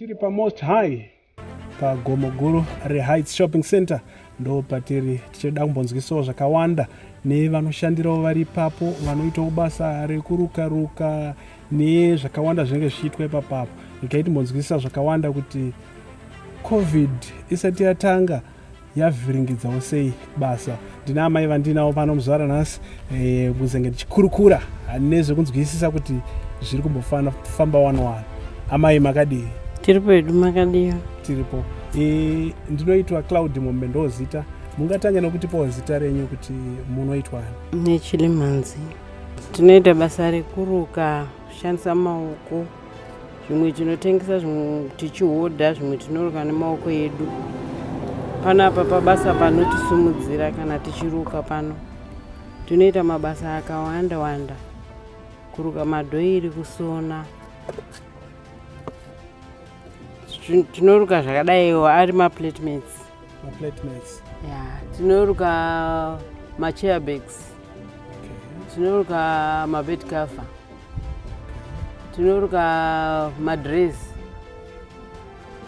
Tiri pa Most High pa gomo guru reHeights Shopping Center ndo patiri tichida kumbonzwisawo zvakawanda nevanoshandirawo vari ipapo vanoitawo basa rekuruka ruka nezvakawanda zvinenge zvichiitwa ipapapo ikai timbonzwisisa zvakawanda kuti covid isati yatanga yavhiringidzawo sei basa ndina amai vandinawo pano muzvara nhasi eh, kuzenge tichikurukura nezvekunzwisisa kuti zviri kumbofana famba wani wani amai makadii tiri pedu makadii tiripo eh, ndinoitwa cloud mombe ndozita mungatanga nokutipawo zita renyu kuti munoitwani nechilimhanzi tinoita basa rekuruka kushandisa maoko zvimwe tinotengesa zvimwe tichihodha zvimwe tinoruka nemaoko edu panapa pabasa panotisimudzira kana tichiruka pano tinoita mabasa akawanda wanda kuruka madhoiri kusona tinoruka zvakadaiwo ari maplatements maplatements ya tinoruka machairbags tinoruka mabed cover tinoruka madress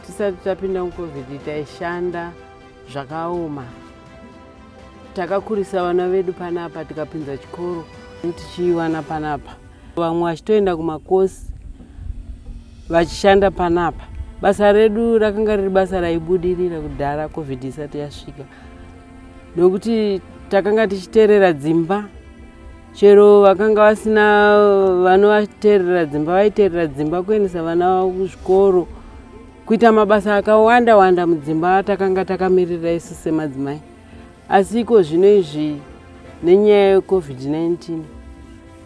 tisati tapinda mucovid taishanda zvakaoma takakurisa vana vedu panapa tikapinza chikoro tichiiwana panapa vamwe vachitoenda kumakosi vachishanda panapa basa redu rakanga riri basa raibudirira kudhara covid isati yasvika nokuti takanga tichiterera dzimba chero vakanga vasina vanovaterera dzimba vaiterera dzimba kuendesa vana vavo kuzvikoro kuita mabasa akawanda wanda mudzimba atakanga takamirira isu semadzimai asi iko zvino izvi nenyaya yecovid-19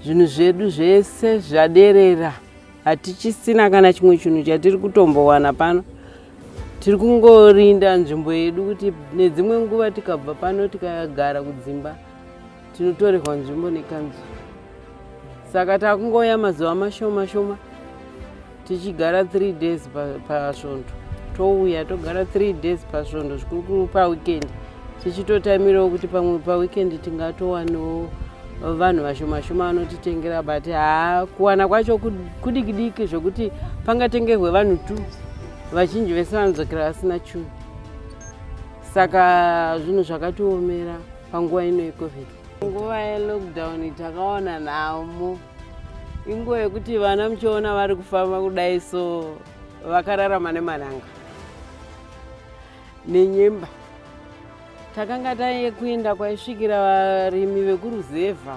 zvinhu zvedu zvese zvaderera hatichisina kana chimwe chinhu chatiri kutombowana pano tiri kungorinda nzvimbo yedu kuti nedzimwe nguva tikabva pano tikagara kudzimba tinotorerwa nzvimbo nekanzuru saka takungouya mazuva mashoma shoma tichigara three days pasvondo touya togara three days pasvondo zvikurukuru paweekend tichitotaimirawo kuti pamwe paweekend tingatowanawo vanhu vashoma shoma vanotitengera but haa kuwana kwacho kudikidiki zvekuti pangatengerwe vanhu two vazhinji vese vanodzokera vasina chunhu saka zvinhu zvakatiomera panguva ino yecovid nguva yelockdown takaona nhamo inguva yekuti vana muchiona vari kufamba kudai so vakararama nemananga nenyemba takanga taiye kuenda kwaisvikira varimi vekuruzevha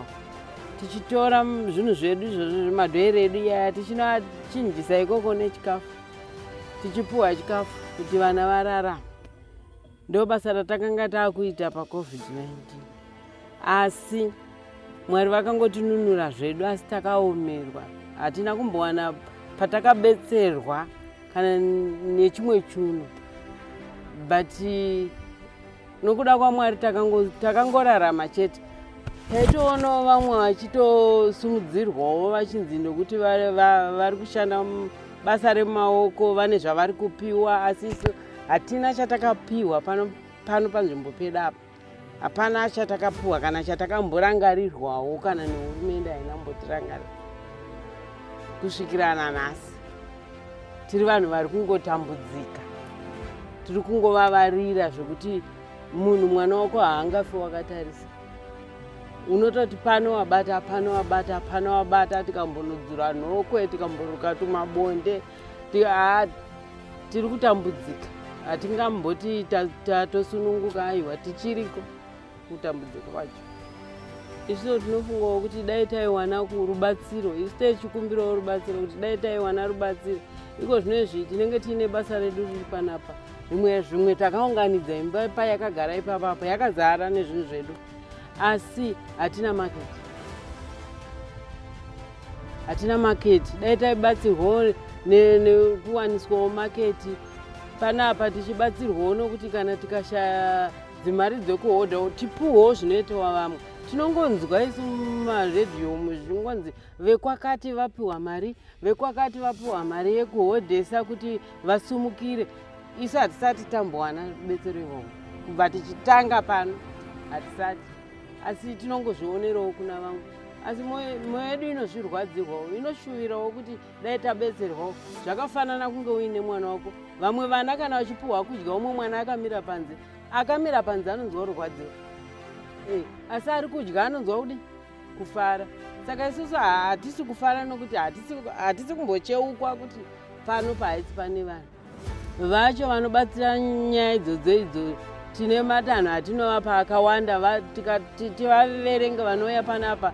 tichitora zvinhu zvedu izvozvo zvemadhoere edu iyaya tichinovachinjisa ikoko nechikafu tichipuhwa chikafu kuti vana vararama Ndo basa ratakanga takuita pa COVID-19. Asi Mwari vakangotinunura zvedu asi takaomerwa. Hatina kumbowana patakabetserwa kana nechimwe chuno. But nokuda kwaMwari takangorarama takango chete. Taitoonawo vamwe vachitosumudzirwawo vachinzi nokuti vari kushanda basa remaoko vane zvavari kupiwa asi isu hatina chatakapiwa pano pano panzvimbo pedu apa hapana chatakapiwa kana chatakamborangarirwawo kana nehurumende haina mbotirangarira kusvikira nanhasi tiri vanhu vari kungotambudzika tiri kungovavarira zvekuti munhu mwana wako haangafi wakatarisa unototi pano wabata pano wabata pano wabata tikambonodzura nhokwe tikamboruka tumabonde tiri kutambudzika hatingamboti tatosununguka aiwa tichiriko kutambudzika kwacho isvino tinofungawo kuti dai taiwana rubatsiro isu techikumbirawo rubatsiro kuti dai taiwana rubatsiro iko zvino izvi tinenge tiine basa redu riri panapa zvimwe zvimwe takaunganidza imba payakagara ipapapa yakazara nezvinhu zvedu asi hatina market hatina market dai taibatsirwawo nekuwaniswawo market panapa tichibatsirwawo nokuti kana tikashaya dzimari dzekuhodha tipuhwo zvinoitawa vamwe tinongonzwa isu mumaredhiyo umu zvingonzi vekwakati vapiwa mari vekwakati vapiwa mari yekuhodhesa kuti vasumukire isu hatisati tambowana betsero ivovo kubva tichitanga pano hatisati asi tinongozvionerewo kuna vamwe asi mwoyo yedu inozvirwadzirwawo inoshuvirawo kuti dai tabetserwawo zvakafanana kunge uine mwana wako vamwe vana kana vachipuhwa kudya umwe mwana akamira panze akamira panze anonzwa kurwadziwa eh, asi ari kudya anonzwa kudi kufara saka isusu hatisi kufara nokuti hatisi kumbocheukwa kuti pano pahaisi pane vanhu vacho vanobatsira nyaya idzodzo idzo tine matanho atinovapa akawanda tivaverenge vanouya panapa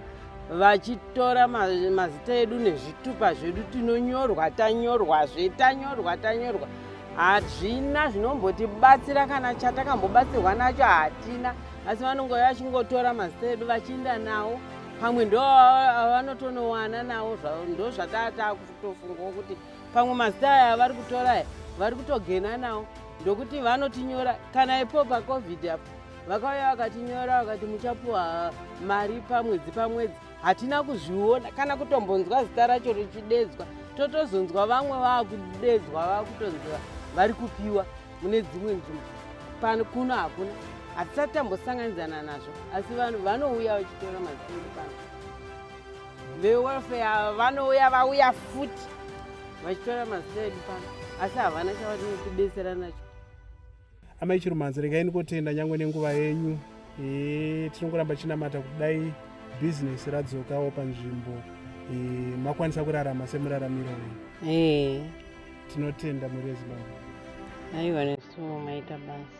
vachitora mazita edu nezvitupa zvedu tinonyorwa tanyorwazve tanyorwa tanyorwa hazvina zvinombotibatsira kana chatakambobatsirwa nacho hatina asi vanongo vachingotora mazita edu vachiinda nawo pamwe ndo vanotonowana nawo ndo zvataa takutofungawo kuti pamwe mazita aya avari kutora aya vari kutogena nawo ndokuti vanotinyora kana ipo pacovid apo vakauya vakatinyora vakati muchapuwa mari pamwedzi pamwedzi hatina kuzviona kana kutombonzwa zita racho richidedzwa totozonzwa vamwe vakudedzwa vakutonzwa vari kupiwa mune dzimwe nzvimbo pano kuno hakuna hatisati tambosanganidzana nazvo asi vanhu vanouya vachitora mazii pano vewelfare vanouya vauya futi vachitora mazita edu pano asi havana chavanotibetsera nacho amai chirumanzi regai ndikotenda nyangwe nenguva yenyu e, tinongoramba chinamata kudai bhizinesi radzokawo panzvimbo e, makwanisa kurarama semuraramiro wenyu e. tinotenda mhuri yezimbabwe aiwa nesuwo maita basa